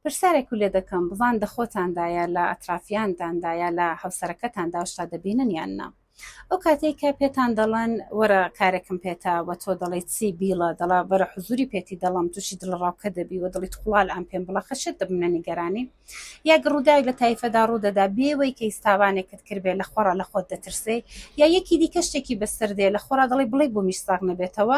پرسیارێک و لێ دەکەم بزان دە خۆتاندا یا لە ئەترافیاندان دا یا لە هەوسەرەکەتان دا شتا دەبینن یان نا ئەو کاتێک کە پێتان دەڵێن وەرە کارێکم پێتا و تۆ دەڵی چی بیڵە دەڵا بەرە حزوری پێتی دەڵم تووشی دڵ ڕاوکە دەبی و دڵی قوڵال ئەم پێم بڵە خەشێت دەبنە نیگەرانی یا گڕوودای لە تایفەدا ڕوودەدا بێوەی کە ئیستاوانێکت کردێ لە خۆڕ لە خۆت دەترسێ یا یەکی دیکە شتێکی بەسەر دێ لە خۆرا دەڵی بڵێ بۆ میش ساغ نەبێتەوە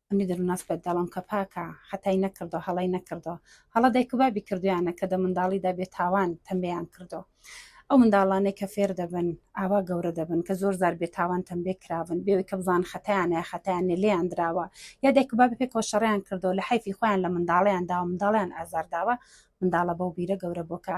ئەمنی دەروناس بە دەڵم کە پاکە حتای نەکردو هەڵی نەکردو هەڵە دایک و بابی کردویانە کە دە منداڵیدا بێ تاوان تەمبێیان کردو ئەو منداڵانەی کە فێر دەبن ئاوا گەورە دەبن کە زۆر زار بێ تاوان تەمبێ کراون بێوەی کە بزان خەتیانە خەتیانە لێیان دراوە یا دایک و بابی پێکەوە شەڕیان کردو لە حیفی خۆیان لە منداڵیان داوە منداڵیان ئازار داوە منداڵە بەو بیرە گەورە بۆکە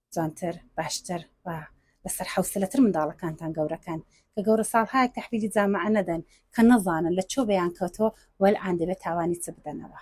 جوانتر باشتر و لەسەر حەوسلەتر منداڵەکانتان گەورەکەن کە گەورە ساڵهایەک تحویلی جامعە نەدەن کە نەزانن لە چۆ بەیان کەوتۆ وەلعان دەبێت تاوانی چ بدەنەوە.